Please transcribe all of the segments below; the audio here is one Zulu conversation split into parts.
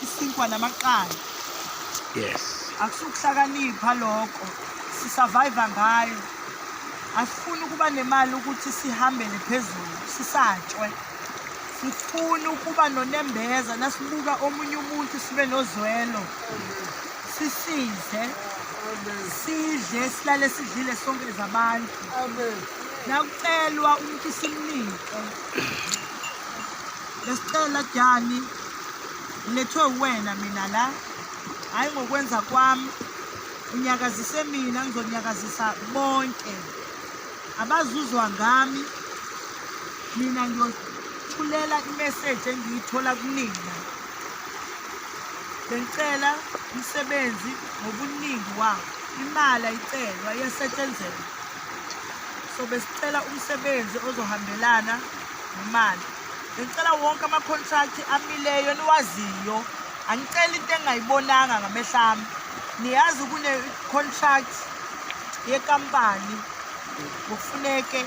isinkwa namaqanda yes akusukuhlakanipha lokho sisurvive ngayo asifuni ukuba nemali ukuthi sihambele phezulu sisatshwe sifuni ukuba nonembeza nasibuka omunye umuntu sibe nozwelo sisize sidle silale sidlile sonke zabantu nakucelwa umuntu simnike besicela jani ngilethwe uwena mina la hhayi ngokwenza kwami unyakazise mina ngizonyakazisa bonke abazuzwa ngami mina ngiyothulela imeseji engiyithola kunina bengicela umsebenzi ngobuningi wawo imali ayicelwa iyasetshenzelwa so besicela umsebenzi ozohambelana nemali Ngicela wonke ama-contract amileyo niwaziyo. Angicela into engingayibonanga ngamehlo ami. Niyazi kune-contract yekampani kufuneke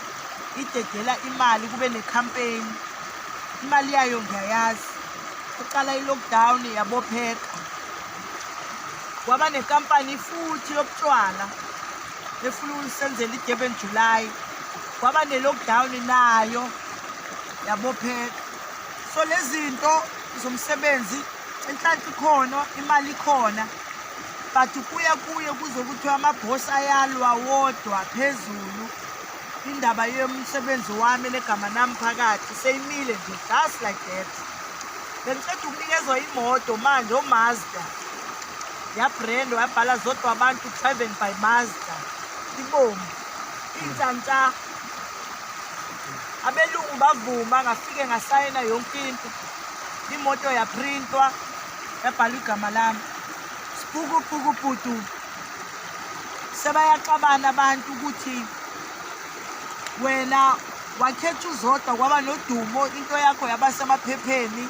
idedela imali kube ne-campaign. Imali yayo ngiyayazi. Kuqala i-lockdown yabopheka. Kwaba nekampani futhi yobutshwala. efuna ukusenzela idurban july kwaba ne-lockdown nayo yabophela so lezi zinto zomsebenzi inhlanhla ikhona imali ikhona but kuye kuye kuze kuthiwa amabhosi ayalwa wodwa phezulu indaba yomsebenzi wami legama nami phakathi seyimile nje just like that bengiceda ukunikezwa imoto manje omazda yabrand wayabhala zodwa abantu driven by mazda ibomvu intshantsha abelungu bavuma ngafike ngasayina yonke into imoto yaprintwa yabhalwa igama lami sipukupuku bhudu sebayaxabana abantu ukuthi wena wakhetha uzodwa kwaba nodumo into yakho yaba semaphepheni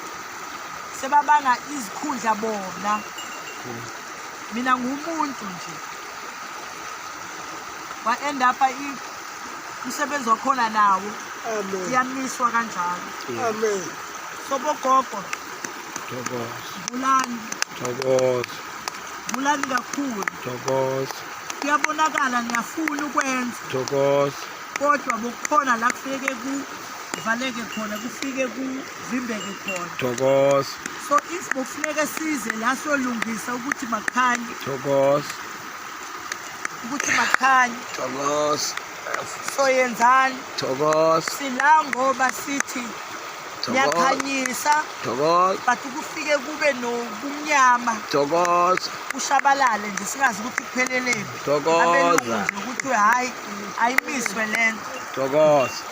sebabanga izikhundla bona mina ngumuntu nje wa-end upa umsebenzi wakhona nawo iyamiswa kanjalo sobogogo vulani vulani kakhulu kuyabonakala niyafuna ukwenza kodwa bokukhona la kufike kuvaleke khona kufike ku zimbeke khona thokoza so if bokufuneka size la solungisa ukuthi makhanye thokoza ukuthi makhanye thokoza soyenzani thokoza sila ngoba sithi niyakhanyisa thokoza but ukufike kube nobumnyama thokoza kushabalale nje singazi ukuthi kupheleleni thokoza ukuthi hhayi ayimiswe le nto thokoza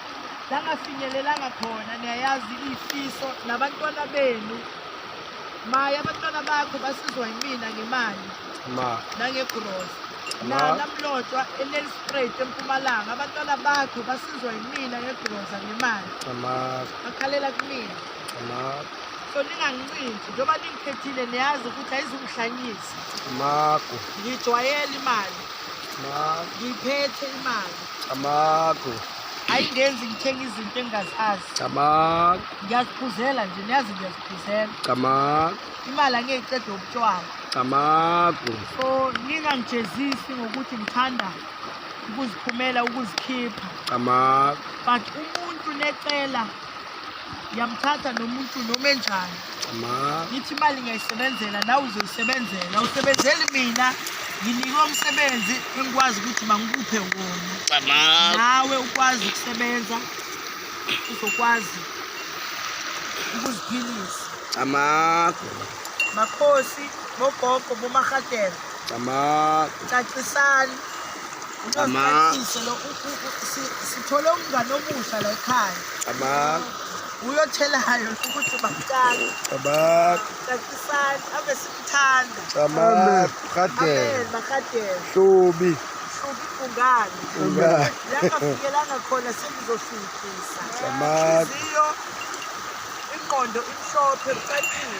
langafinyelelanga khona niyayazi ifiso nabantwana benu maye abantwana bakho basizwa yimina ngemali ma nangegrosa Ma. nanamlotshwa enelistrate empumalanga abantwana bakho basizwa yimina ngegrosa ngemali ama bakhalela kumina ama so ningangincintshi njengoba ningikhethile niyazi ukuthi ayizungihlanyisa amagu ngijwayele imali ma ngiyiphethe imali Camagu. ayingenzi ngithenga izinto engingazazi Camagu. ngiyaziphuzela nje niyazi ngiyaziphuzela Camagu. imali angiyeyiqeda ubutshwala Camagu. so ningangijezisi ngokuthi ngithanda ukuziphumela ukuzikhipha Camagu. but umuntu necela ngiyamthatha nomuntu noma enjani ngithi imali ngiyayisebenzela nawe uzoyisebenzela usebenzeli mina nginikwe umsebenzi engikwazi ukuthi mangikuphe wona nawe ukwazi ukusebenza uzokwazi ukuziphilisa amago makhosi bogogo bomarhatela cacisani nxaso lo sithole umngane omusha la ekhaya uyothelayo ukuthi bamtshale cacisani ave simthanda makadela hlubi ibhungane langafikelanga khona sengizoshuthisa inqondo imhlophe kucacile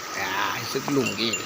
Hayi sekulungile.